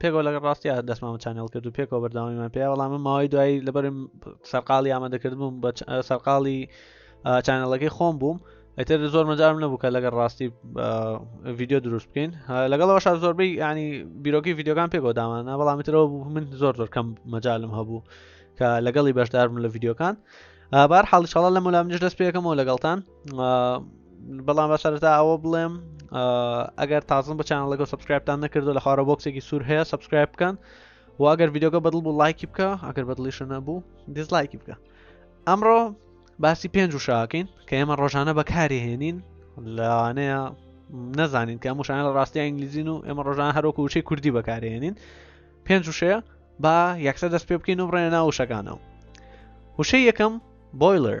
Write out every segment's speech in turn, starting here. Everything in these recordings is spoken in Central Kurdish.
پێکەوە لەگەڵ ڕاستیا دەستمان چانێڵ کرد و پێکەوە بەرداوامیمان پێ وەڵام ماوەی دوایی لەبەرم سەرقاڵی ئامادەکرد بووم بە سەرقاڵی چانەڵەکەی خۆم بووم ئەتر زۆر مەجارم نەبوو کە لەگەڵ ڕاستی ڤیددیو دروست بکەین لەگەڵەوە شار زۆربەی ینی بیرۆکی ڤیددیوگان پێکەوە دامانە بەڵامی ترەوە بوو من زۆر زۆر کەم مەجالم هەبوو کە لەگەڵی بەشدارم لە ڤیددیوکان بار حاڵی شڵە لە مولامنیش دەست پێەکەمەوە لەگەڵتان بەڵام بە سەرتا ئەوە بڵێم ئەگەر تازم بە چیان لەگە سبسکرایبتان نەکردو لە خوارە بۆکسێکی سوور هەیە سبسکرایب بکەن و ئەگەر یددیوگە بەدڵ بوو لایکی بکە ئەگەر بەدڵیشە نەبوو دیزلایکی بکە ئەمڕۆ باسی پێنج و شاکەین کە ئێمە ڕۆژانە بەکاری هێنین لەوانەیە نەزانین کە موشانە لە ڕاستی ئینگلیزین و ئێمە ڕۆژان هەرۆکو وچەی کوردی بەکارێنین پێنج وشەیە با یەکسە دەست پێ بکەین و بڕێنە ناو وشەکانەوە وشەی یەکەم بۆیلەر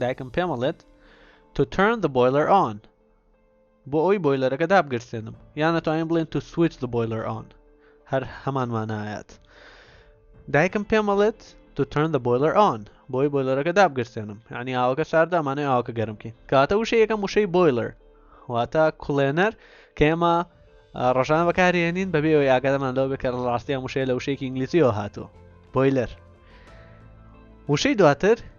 دایکم پێم ئەڵێت To turn the boiler on بۆ ئەوی بۆیلەرەکە دابگرسێنم یان ئەتوانین بڵێن To switch the boiler on هەر هەمان مانایەت دایکم پێم ئەڵێت To turn the boiler on بۆی بۆیلەرەکە دابگرسێنم یعنی ئاوەکە شاردامانەی ئاوەکە گەرمکی کاتە وشە یەکەم وشەی بۆیلەر واتە کوڵێنەر کە ئێمە ڕژان بەکارێنین بەبێ ئەوی ئاگادەمان لەوە بکە ڕاستیان وشەیە لە وشەیەکی ئینگلیزیەوە هاتووە بۆیلەر وشەی دواتر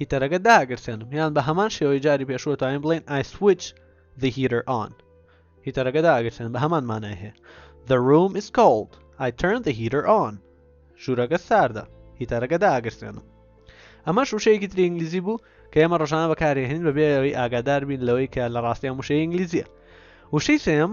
هیتەرەکە داگرسێنم یان بە هەمان شێوەی جاری پێشوە تایم بڵین I switch the heater on هیتەرەکە داگرسێن بە هەمان مانای هەیە The room is cold I turn the heater on ژوورەکە ساردە هیتەرەکە داگرسێنم ئەمە شوشەیەکی تری ئینگلیزی بوو کە ئێمە ڕژانە بەکارێنین بەبێەوەی ئاگادار بین لەوەی کە لە ڕاستیان وشەی ئینگلیزیە وشەی سێم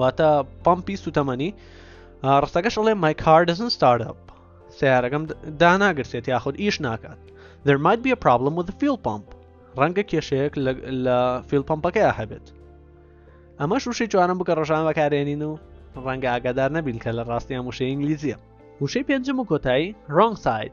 واتە پمپی سوتەمەنی ڕستەکەش ئەڵێ مای کاردزن ستارتپ سیارەکەم داناگرسێت یاخود ئیش ناکات there might be a problem with the fuel pump ڕەنگە کێشەیەک لە فیل پمپەکەی هەبێت ئەمە شوشەی جوانم بکە ڕۆژان بەکارێنین و ڕەنگە ئاگادار نەبین کە لە ڕاستیان وشە ئینگلیزیە وشەی پێنجم و کۆتایی ڕنگ ساید